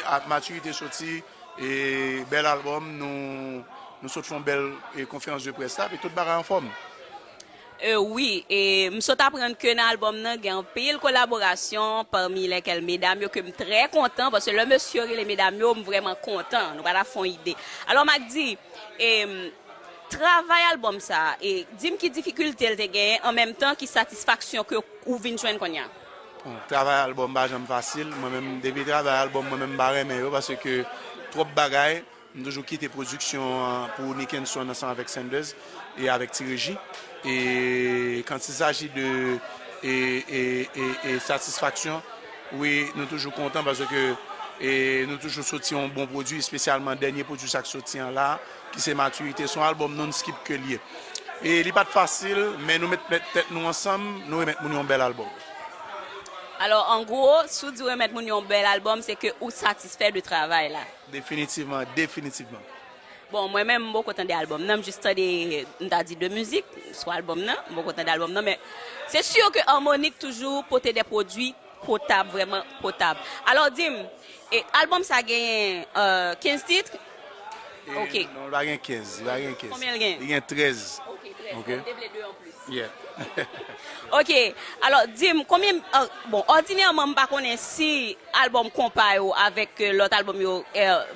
Ak matirite soti e bèl album nou sot fon bèl konferans de près la epi tout bagay anfòm. Euh wi e m sot aprann ke nan album nan gen anpil kolaborasyon parmi lèkèl medam yo ke m trè kontan paske lè mesye yo rele medam yo m vrèman kontan nou pa ta fon ide alò Macdy e travay album sa e di m ki difikilte l te genyen an menm tan ki satisfaksyon ke ou vin jwenn konnya. Travay album pa janm fasil mwen menm depi travay album mwen menm m pa renmen yo paske twòp bagay m toujou kite production an pou Nickenson ansanm avèk Sanders e avèk Ti Reji e quand il s'agit de e satisfaction wi nou toujou kontan paske nou toujou soti yon bon produit espesyalman dènye produit sa k soti an la. Ki se matirite. Son album non skip ke liye. E li pat fasil men nou met tèt nou ansanm nou remèt moun yon bèl album. Alò an gwo, si w di w remèt moun yon bèl album se ke ou satisfè de travay la. Definitivman, definitivman. Bon mwen menm m poko tande album nan, m jis tande m ta di 2 mizik sou album nan, m poko tande album nan men se sur ke Harmonik toujou pote de pwodwi Potab vrèman potab. Alò di m, e album sa genyen 15 titre? Ok. E non li pa gen 15, li pa gen 15. Konbyen l gen? Li gen 13. Ok 13. Ok. M te vle 2 an plis. Yeah. Ok. Alò di m konbyen m, bon òdinèman m pa konnen si album konpa yo avèk lòt album yo,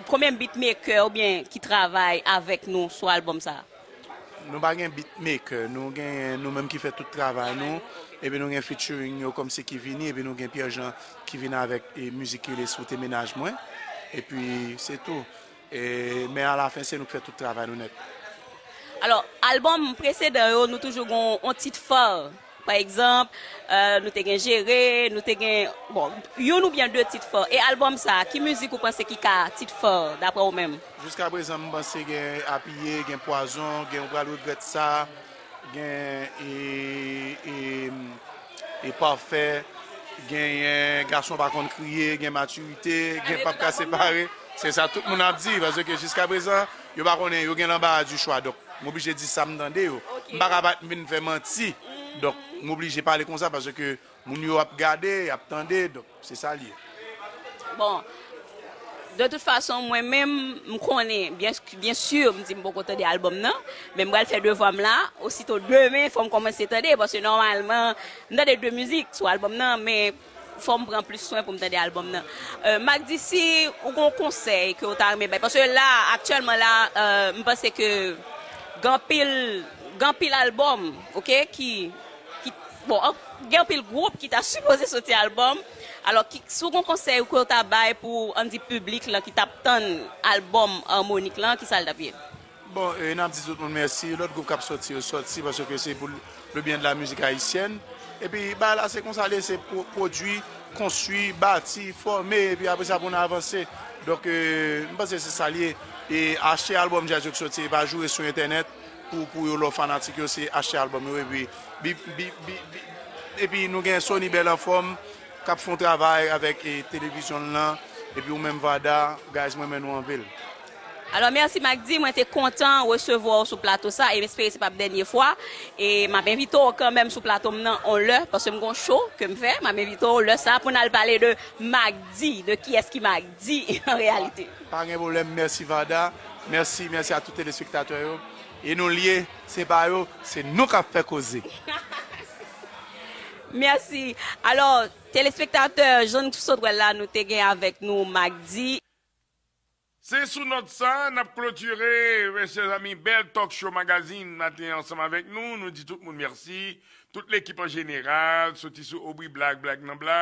konbyen beatmaker oubyen ki travay avèk nou sou album sa? Nou pa gen beatmaker, nou genyen nou menm ki fè tout travay nou, epi nou gen featuring yo kòmsi ki vini, epi nou gen Pierre Jean ki vin avèk mizik ki rele sou te mennaj mwen, epi se tou, men a la fen se nou ki fè tout travay nou nèt. Alò, albòm presedan yo nou toujou gen yon tit phare. Pa egzanp, nou te gen Jere, nou te gen, bon, youn oubyen de tit fò. E albòm sa, ki mizik ou panse ki ka tit fò, daprè ou menm? Jiska prezan m panse gen Apiye, gen Pwazon, gen Ou pral regrèt sa, gen e Pafè, genyen Gason pa konn kriye, gen Matirite, gen Pap ka separe. Se sa tout moun ap di paske jiska prezan. Yo pa konnen, yo gen lanbara di chwa donk m oblije di sa m tande yo. M pa ka pa m vin fè manti donk m oblije pale konsa paske moun yo ap gade, y ap tande donk se sa l ye. Bon, de tout fason mwen menm m konnen byen si m di m poko tande albòm nan men m pral fè devwa m la osito demen fò m kòmanse tande paske nòmalman m tande de mizik sou albòm nan men Fòm pran plis swen poum tande album nan. Magdy si ou gon konsèy ke ou ta renmen bay paske la aktyèlman la m panse ke gen anpil gen anpil album ok ki ki bon gen anpil gwoup ki ta sipoze soti album alò ki si ou gon konsèy ke ou ta bay pou an n di piblik lan ki tap tann album Harmonik lan kisa l tap ye? Bon e nap di tout moun mèsi, lòt gwoup kap sòti yo sòti paske se pou le byen de la mizik ayisyèn epi bagay la se konsa l ye se pwodui, konstui, bati, fòme epi apre sa pou n avanse donk m panse se sa l ye e achte albòm djaz yo k sòti e pa joure sou entènèt pou yo lòf fanatik yo se achte albòm yo epi epi nou gen Sony Bel Anfòm kap fon travay avèk televizyon l lan epi ou menm Vada guys mwen renmen nou anpil. Alò mèsi Macdy, mwen te kontan resevwa w sou plato sa e m espere se pap dènye fwa e map envite w kanmèm sou plato m nan on lè paske m gon show ke m fè, map envite w lè sa pou n al pale de Macdy, de kiyès ki Macdy an reyalite. Pa gen pwoblèm, mèsi Varda, mèsi, mèsi a tout telespektatè yo e nou lye, se pa yo, se nou kap fè koze. Mèsi, alò telespektatè jan n sot wè l la nou te gen avèk nou Macdy. Se sou nòt sa nap klotire chè zanmi bèl talk show magazine maten ansanm avèk nou, nou di tout moun mèsi, tout lekip an jeneral, soti sou Aubry Black, Black nan Black.